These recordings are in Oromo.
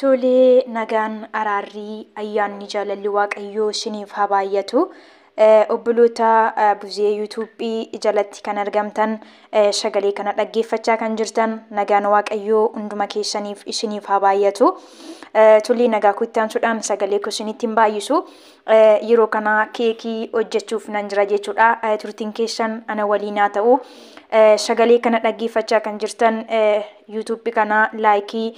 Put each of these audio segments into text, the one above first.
Tolee nagaan araarrii ayyaanni jaalalli waaqayyoo isiniif haa baay'atu. Obboloota Buzee YouTube jalatti kan argamtan sagalee kana dhaggeeffachaa kan jirtan nagaan Waaqayyoo hunduma keessaniif isiniif haa baay'atu. Tullee nagaa koo itti aansuudhaan sagalee koo isinitti hin baay'isu. Yeroo kana keekii hojjechuuf nan jira jechuudha. Turtiin keessan ana waliin haa ta'u. Sagalee kana dhaggeeffachaa kan jirtan YouTube kana like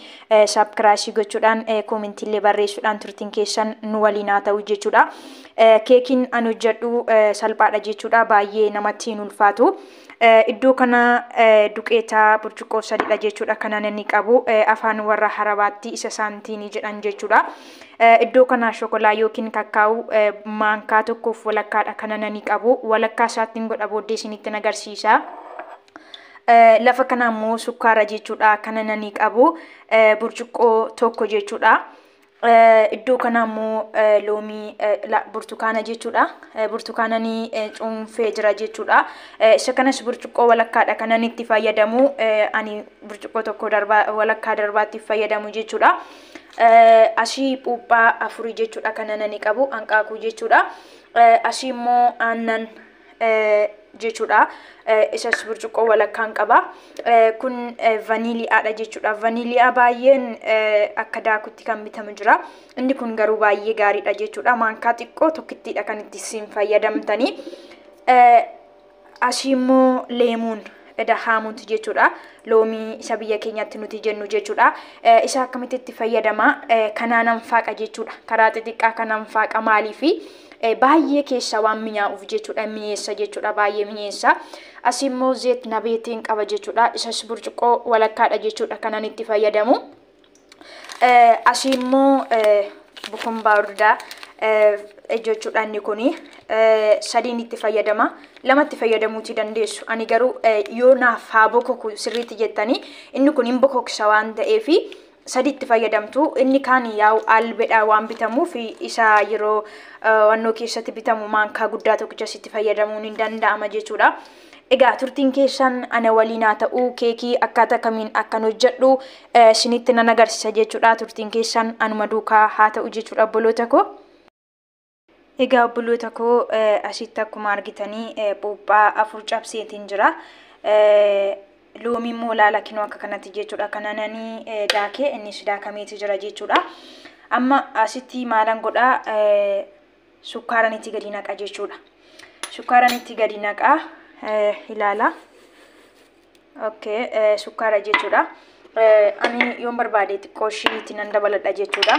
subscribe gochuudhaan comment illee barreessuudhaan turtiin keessan nu waliin haa ta'u jechuudha. Keekiin an hojjedhu salphaadha jechuudha baay'ee namatti hin ulfaatu. Iddoo kana duqeeta burcuqqoo sadiidha jechuudha kanan inni qabu afaan warra harabaatti isa saantiinii jedhan jechuudha. Iddoo kana shokolaa yookiin kakkaa'u maankaa tokkoof walakkaadha kanan inni qabu walakkaa isaattiin godha booddee isinitti agarsiisa. Lafa kana immoo sukkaara jechuudha. Kana nani qabu burcuqqoo tokko jechuudha. Iddoo kana immoo loomii burtukaana jechuudha. Burtukaana ni cuunfee jira jechuudha. Isa kanas burcuqqoo walakkaadha kanan itti fayyadamu. Ani burcuqqoo tokko darbaa walakkaa darbaatti fayyadamu jechuudha. Asii puuphaa afurii jechuudha kana nani qabu hanqaaquu jechuudha. Asii immoo aannan jechuudha. Isas burcuqqoo walakkaan qaba. Kun vaniiliyaadha jechuudha. Vaniiliyaa baay'een akka daakutti kan bitamu jira. Inni kun garuu baay'ee gaariidha jechuudha. Maankaa xiqqoo tokkittiidha kan itti isin fayyadamtanii. Asii immoo leemuun dahaamuuti jechuudha. Loomii isa biyya keenyatti nuti jennu jechuudha. Isa akkamitti itti fayyadama? Kanaanan faaqa jechuudha. Karaa xixiqqaa kanaan faaqa maaliifi? baay'ee keessaa waan minyaa'uuf jechuudha mi'eessa jechuudha baay'ee mi'eessa asii immoo zeet nabeetiin qaba jechuudha isas burcuqqoo walakkaadha jechuudha kanan itti fayyadamu asii immoo bukumbaa urdaa jechuudha inni kun sadiin itti fayyadama lamatti fayyadamuuti dandeessu ani garuu yoo naaf haa bokoku sirriitti jettanii inni kun hin bokoksa waan ta'eefi sadiitti fayyadamtu. Inni kaan yaa'u albedhaa waan bitamuuf isa yeroo wannoo keessatti bitamu maankaa guddaa tokkicha sitti fayyadamuun hin danda'ama jechuudha. Egaa turtiin keessan ana waliin haa ta'u keekii akkaataa kamiin akkan hojjedhu isinitti nan agarsiisa jechuudha. Turtiin keessan anuma duukaa haa ta'u jechuudha obboloota koo. Egaa obboloota koo asitti akkuma argitanii phuuphaa afur cabseetiin jira. Loomii immoo laala kinoo akka kanatti jechuudha. Kanananii daakee innis daakameeti jira jechuudha. Amma asitti maalan godhaa sukkaaran itti gadi naqa jechuudha. Sukkaaran itti gadi naqa ilaala. Okay, sukkaara jechuudha. Ani yoon barbaade xiqqoo ishii itti nan dabaladha jechuudha.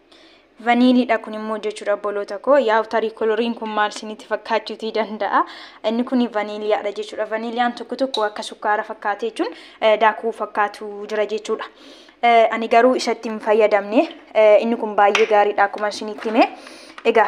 vaniiliidha kun immoo jechuudha obboloota koo yaa'u tarii koloriin kun maal isinitti fakkaachuutii danda'a inni kun vaniiliyaadha jechuudha vaniiliyaan tokko tokko akka sukkaara fakkaatee jechuun daakuu fakkaatu jira jechuudha ani garuu isatti hin fayyadamne inni kun baay'ee gaariidha akkuma isinitti hime egaa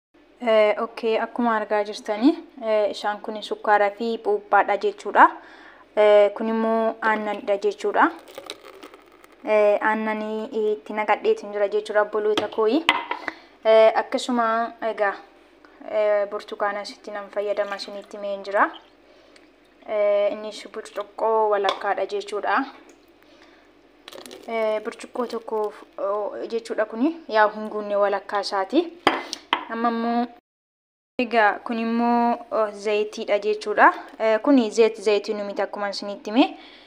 ok akkuma argaa jirtanii isaan kun sukkaaraa fi buuphaadha jechuudha kun immoo aannanidha jechuudha aannanii itti naqadheetiin jira jechuudha obboloota kooyi akkasuma egaa burtukaana sitti nan fayyadama isinitti meen jira Innis burcuqqoo walakkaadha jechuudha. Burcuqqoo tokko jechuudha kuni yaa hin guunne walakkaa isaati. Amma immoo egaa kun immoo zayitiidha jechuudha. Kuni zayit zayitiinuu miti akkuma isinitti hime.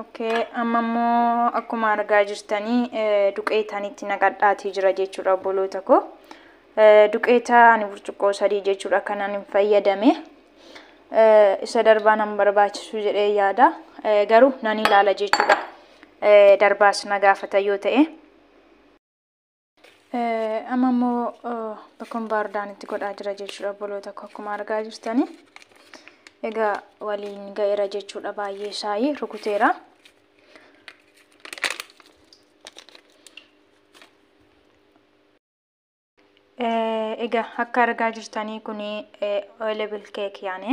Okay, amma immoo akkuma argaa jirtanii eh, duqeetaan itti naqadhaatii jira jechuudha obboloota koo. Eh, Duqeeta ani burcuqqoo sadii jechuudha kanan hin fayyadame. Eh, Isa darbaa nan barbaachisu jedhee yaada. Eh, Garuu nan ilaala jechuudha. Eh, Darbaas na gaafata yoo ta'e. Amma immoo bakkoon baardaan itti godhaa jira jechuudha obboloota koo akkuma argaa jirtanii. Egaa waliin ga'eera jechuudha baay'ee shaayii rukuteera. Egaa akka argaa jirtanii kun oilable cake yaane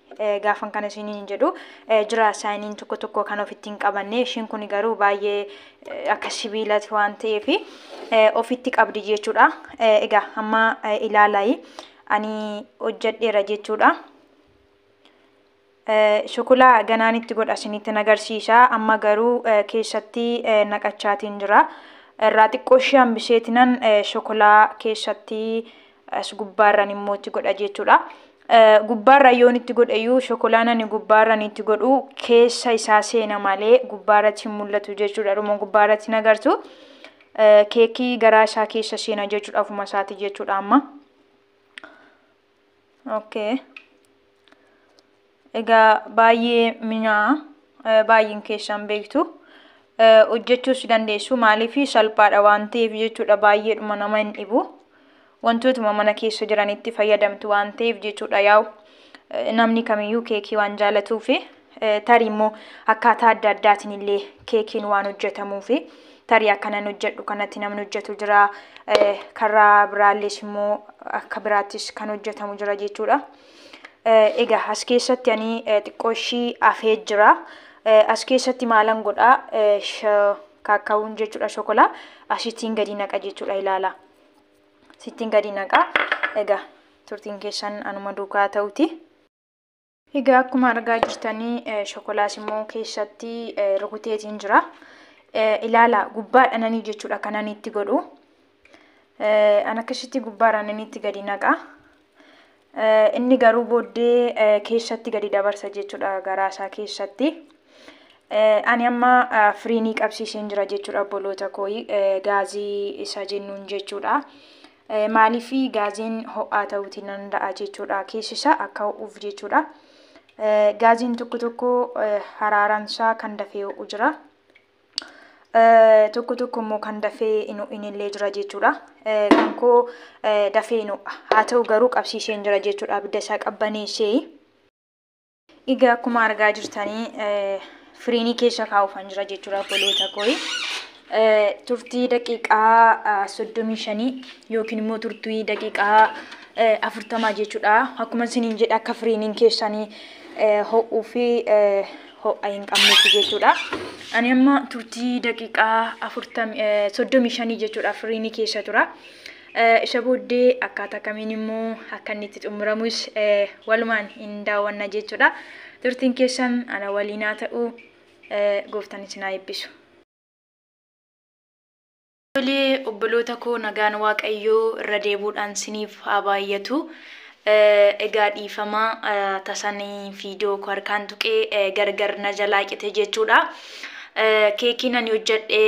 gaafan kana isiniin jedhu jira saayiniin tokko tokko kan ofitti hin qabanne ishiin kun garuu baay'ee akka sibiilati waan ta'eef ofitti qabdi jechuudha. Egaa amma ilaalaayi ani hojjedheera jechuudha. Shukulaa ganaan itti godha isinitti agarsiisa amma garuu keessatti naqachaatiin jira. Irraa xiqqoo ishee hambiseetinan shukulaa keessatti as gubbaarran immoo itti godha jechuudha. Gubbaarra yoon itti godheyyuu shokolaan ani gubbaarran itti godhu keessa isaa seena malee gubbaarratti hin mul'atu jechuudha. Dhuma gubbaarratti hin agartu. Keekii garaa isaa keessa seena jechuudha ofuma isaati jechuudha amma. Okay. Egaa baay'ee minyaa baay'een keessan beektu hojjechuus dandeessu maaliif salphaadha waan ta'eef jechuudha baay'eedhuma nama hin dhibu wantootuma mana keessa jiranitti fayyadamtu waan ta'eef jechuudha yaa'u namni kamiyyuu keekii waan jaalatuufi tarii immoo akkaataa adda addaatiin illee keekiin waan hojjetamuufi tarii akkanan hojjedhu kanatti namni hojjetu jira karaa biraallees immoo akka biraattis kan hojjetamu jira jechuudha. Egaa as keessatti ani xiqqoo ishii afee jira. As keessatti maalan godha kaakkaawuun jechuudha shokolaa asittiin gadi naqa jechuudha ilaala. Sittiin gadi naqa. Egaa turtiin keessan anuma duukaa ta'uti. Egaa akkuma argaa jirtanii shokolaas immoo keessatti rukuteetiin jira. Ilaala gubbaadhananii jechuudha kanan itti godhu. An akkasitti gubbaarraan inni itti gadi naqa. Inni garuu booddee keessatti gadi dabarsa jechuudha garaa isaa keessatti. Ani amma firiinii qabsiiseen jira jechuudha obboloota koo gaazii isa jennuun jechuudha. Maaliif gaaziin ho'aa ta'uutii danda'a jechuudha keessi isaa akka ho'uuf jechuudha. Gaaziin tokko tokko haraaransaa kan dafee ho'u jira. Tokko tokko immoo kan dafee hin ho'inillee jira jechuudha. Kan koo dafee hin ho'a. Haa ta'u garuu qabsiiseen jira jechuudha abidda isaa qabbaneessee. Egaa akkuma argaa jirtanii firiinii keessa kaa'uufan jira jechuudha obboloota kooyi. Turtii daqiiqaa soddomii shanii yookiin immoo turtii daqiiqaa afurtamaa jechuudha. Akkuma isiniin jedhe akka firiiniin keessanii ho'uu fi ho'a hin qabnetti jechuudha. Ani amma turtii daqiiqaa afurtam- eh, soddomii shanii jechuudha firiinii keessa tura. Eh, Isa booddee akkaataa kamiin immoo akka inni itti xumuramus eh, walumaan hin daawwanna jechuudha. Turtiin keessan ana waliin haa ta'u eh, gooftaan isin haa eebbisu. Tolee obboloota koo nagaan waaqayyoo irra deebuudhaan siniif haa baay'atu egaa dhiifama tasan viidiyoo koo harkaan tuqee gargar na jalaa cite jechuudha keekiin ani hojjedhe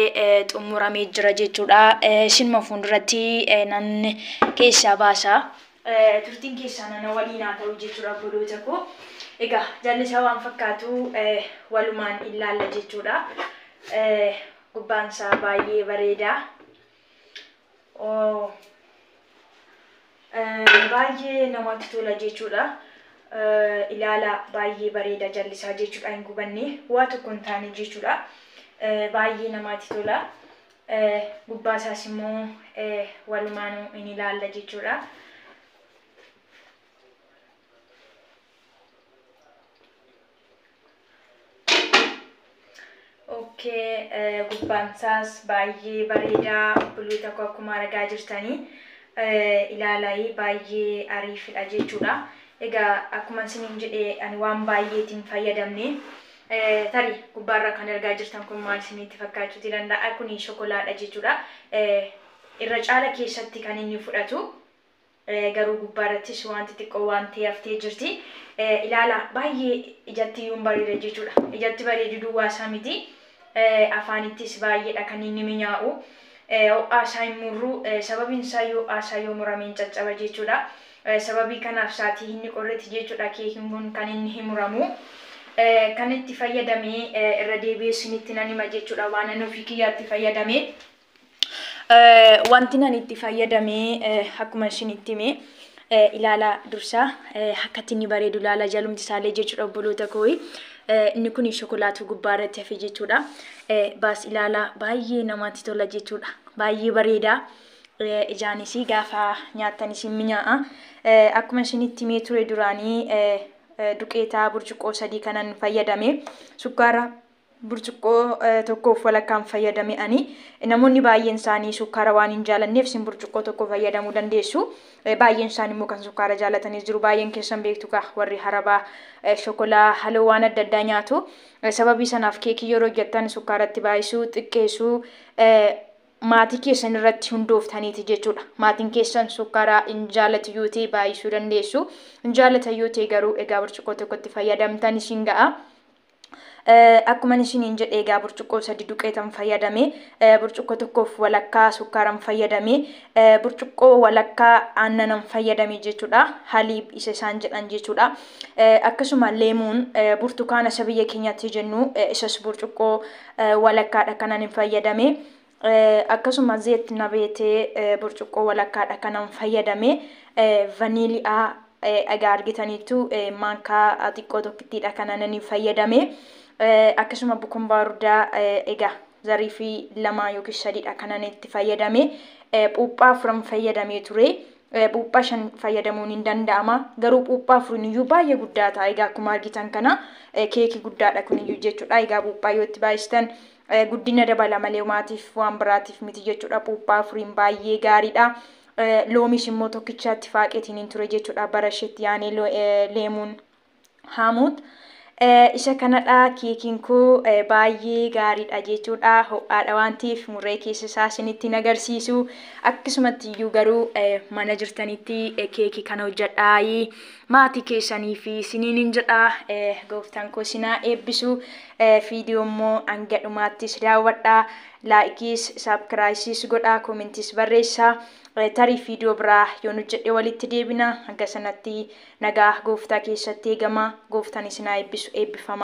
xumuramee jira jechuudha isinuma fuulduratti nan keessaa baasa turtiin keessaa nana waliin haa ta'u jechuudha obboloota koo egaa jallisaa waan fakkaatu walumaan ilaalla jechuudha Gubbaan isaa baay'ee bareeda. Oh. Eh, baay'ee namatti tola jechuudha. Eh, ilaala baay'ee bareeda jallisaa jechuudha hin gubanne waa tokko hin taane jechuudha. Eh, baay'ee namatti tola. Eh, gubbaa isaas immoo eh, walumaanuu hin ilaalla jechuudha. Okkee eh, gubbaan isaas baay'ee bareedaa obboloota koo akkuma argaa jirtanii eh, ilaalaayi baay'ee ariifidha jechuudha. Egaa akkuma isiniin jedhe ani waan baay'eetiin fayyadamne eh, tari gubbaarra kan argaa jirtan kun maal isinitti fakkaachuuti danda'a kuni shokolaadha jechuudha. Eh, irra caala keessatti kan inni fudhatu garuu gubbaa irrattis waanti xiqqoo waan ta'e haftee jirti. Ilaalaa baay'ee ijatti iyyuu hin bareeda jechuudha. Ijatti bareeduu duwwaa isaa miti afaanittis baay'eedha kan inni minyaa'u. Ho'aa isaa hin murru sababiin isaa yoo ho'aa isaa yoo murame hin caccaba jechuudha. Sababii kanaaf saatii inni qorretti jechuudha keekiin kun kan inni hin muramu. Kan itti fayyadame irra deebi'ee isinitti nan hima jechuudha waanan ofii kiyyaatti fayyadame. Wanti nan itti fayyadamee akkuma isin itti hime ilaala dursaa akkatti inni bareedu ilaala jalumti isaallee jechuudha obboloota koo inni kun shokolaatu gubbaa irratti hafe jechuudha baas ilaala baay'ee namatti tola jechuudha baay'ee bareeda ijaanis gaafa nyaattan isin minyaa'a akkuma isin itti himee ture duraanii duqeetaa burcuqqoo sadii kanan fayyadame sukkaara burcuqqoo tokkoof walakkaan fayyadame ani. Namoonni baay'een isaanii sukkaara waan hin jaalanneef isin burcuqqoo tokko fayyadamuu dandeessu. Baay'een isaanii immoo kan sukkaara jaalatanis jiru. Baay'een keessan beektu kaa warri harabaa shokolaa haloo waan adda addaa nyaatu. Sababii sanaaf keekii yeroo hojjettan sukkaaratti baay'isuu, xiqqeessuu maatii keessan irratti hundooftaniiti jechuudha. Maatiin keessan sukkaara hin jaalatu yoo ta'e baay'isuu dandeessu. Hin jaalatan yoo ta'e garuu egaa burcuqqoo tokkotti fayyadamtan isin ga'a. Akkuman isiniin jedhe egaa burcuqqoo sadi duqeetan fayyadame, burcuqqoo tokkoof walakkaa sukkaaran fayyadame, burcuqqoo walakkaa aannanan fayyadame jechuudha. Haliib isa isaan jedhan jechuudha. Akkasuma leemuun burtukaana isa biyya keenyatti jennu isas burcuqqoo walakkaadha kanan hin fayyadame. Akkasuma zeet nabeetee burcuqqoo walakkaadha kanan fayyadame vaniili'aa egaa argitaniittu maankaa xiqqoo tokkittiidha kananani fayyadame akkasuma bukumbaardaa egaa zarii fi lamaa yookiin sadiidha kanan itti fayyadame phuuphaa afuran fayyadamee ture phuuphaa shan fayyadamuun hin danda'ama garuu phuuphaa afuriin iyyuu baay'ee guddaa ta'a egaa akkuma argitan kana keekii guddaadha kun iyyuu jechuudha egaa phuuphaa yoo itti baay'istan Guddina dabala malee homaatiif waan biraatiif miti jechuudha. Puuphaa furiin baay'ee gaariidha. Loomiis immoo tokkichaatti faaqeetiin hin ture jechuudha. Bara isheetti yaanee leemuun haamuut. Isa kanadha keekiin koo baay'ee gaariidha jechuudha. Ho'aadha waan ta'eef muree keessa isaa isinitti hin agarsiisu. Akkasumatti iyyuu garuu mana jirtanitti keekii kana hojjedhaa maatii keessanii fi isiniin hin jedha. Gooftaan koo sinaa eebbisu. Video immoo hanga dhumaattis daawwadhaa. Laa'ikiis, saabkiraayisiis godhaa, koomentiis barreessaa. Tarii video biraa yoon hojjedhe walitti deebina. Hanga sanatti nagaa gooftaa keessatti eegamaa. Gooftaan isin haa eebbisu. Eebbifamaa.